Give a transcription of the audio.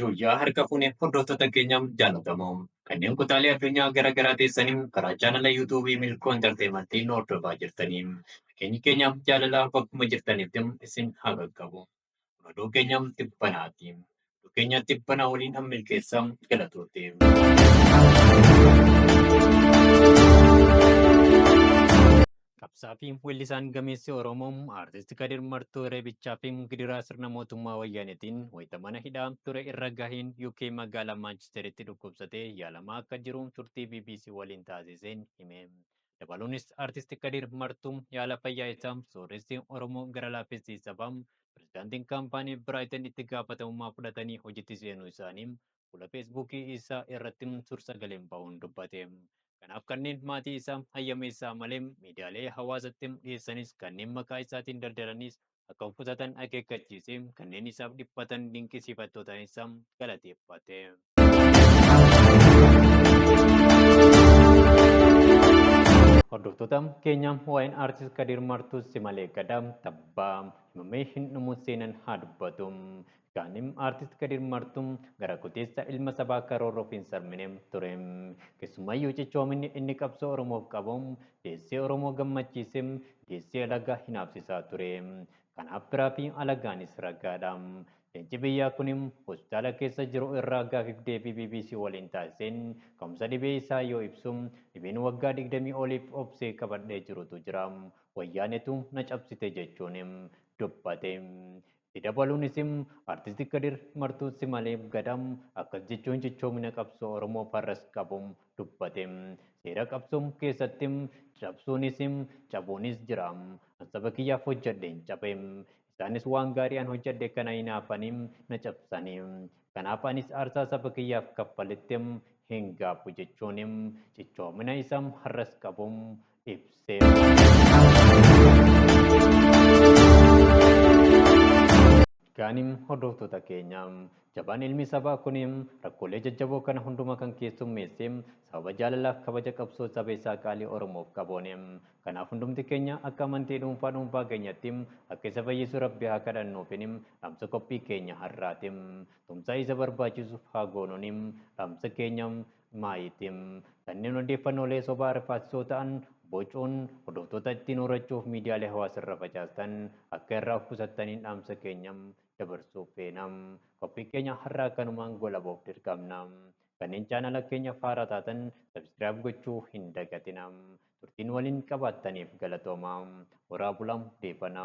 Yooyyaa harka fuune hordoftoota keenya jaalatamoo kanneen kutaalee addunyaa gara garaa teessanii karaa chaanala yuutuubii milkoo intarteemantiin hordofaa jirtanii keenyi keenya jaalalaa bakkuma jirtanitti isin haa qaqqabu. Madoo keenya tibbanaati. Madoo keenya tibbanaa waliin an milkeessa galatoote. Qabsaa fi weellisaan gameessi Oromoo Aartist Kadir Martuu Reebichaa fi gidiraa sirna mootummaa wayyaanetiin wayita mana hidhaa ture irra gaheen UK magaalaa Maanchesteritti dhukkubsatee yaalamaa akka jiru turtii BBC waliin taasiseen hime. Dabaluunis Artisti Kadiir Martuu yaala fayyaa isaa sooressi Oromoo gara laaffissi sabaa pirezidaantiin kaampaanii Biraayiten itti gaafatamummaa fudhatanii hojiitti seenuu isaanii fuula feesbuukii isaa irratti suur-sagaleen ba'uun dubbate. Kanaaf kanneen maatii isaa hayyameessaa malee miidiyaalee hawaasatti dhiyeessanis kanneen maqaa isaatiin daldalanis akka of qusatan akeekkachiise, kanneen isaaf dhiphatan dinqisiifattootaan isa galateeffate. Hordoftoota keenya waa'een aartist Kadir Martuu Simalee Gadaa tabbaa himamee hin dhumu seenan haa dubbatu. Gaanim Artist Kadir Martu gara kuteessa ilma sabaa karoorroof hin sarmine ture. Keessumayyuu cichoominni inni qabsoo Oromoof qabu deessee Oromoo gammachiise, deessee alagaa hinaafsisaa ture. Kanaaf firaa fi alagaanis ragaadha. Leenci biyyaa kuni hospitaala keessa jiru irraa gaafiif deebii bbc waliin taasiseen ka'umsa dhibee isaa yoo ibsu, dhibeen waggaa digdamii oliif obsee qabadhee jirutu jira. Wayyaanetu na cabsite jechuun dubbate. Itti dabaluunis, Artisti Kadir martuu si malee gada akkas jechuun cichoomina qabsoo Oromoo farras qabu dubbate. Seera qabsoo keessatti cabsuunis cabuunis jira. An saba kiyyaaf hojjadheen cabe. Isaanis waan gaarii an hojjadhe kana hinaafanii na cabsani. Kanaaf anis aarsaa saba kiyyaaf kaffaletti hin gaabbu jechuun cichoomina isa harras qabu Gaanim hordoftoota keenya jabaan ilmi sabaa kun rakkoolee jajjaboo kana hundumaa kan keessummeesse sababa jaalalaaf kabaja qabsoo saba isaa qaalii Oromoof qaboone. Kanaaf hundumti keenya akka amantii dhuunfaa dhuunfaa keenyatti akka isa fayyisu rabbi haa kadhannuufin dhaamsa qophii keenya har'aati. Tumsaa isa barbaachisuuf haa goonuun dhaamsa keenya Maayiti. Kanneen odeeffannoolee sobaa rifaasisoo ta'an bocuun hordoftoota ittiin horachuuf miidiyaalee hawaasa irra facaastan akka irraa of qusattaniin dhaamsa keenya dabarsuu feena. Qophii keenya har'aa kanumaan goolabuuf dirqamna. Kanneen chaanala keenyaf haaraa taatan subscribe gochuu hin dagatina. Turtii nu waliin qabaattaniif galatoomaa. Horaa bulaa deebana.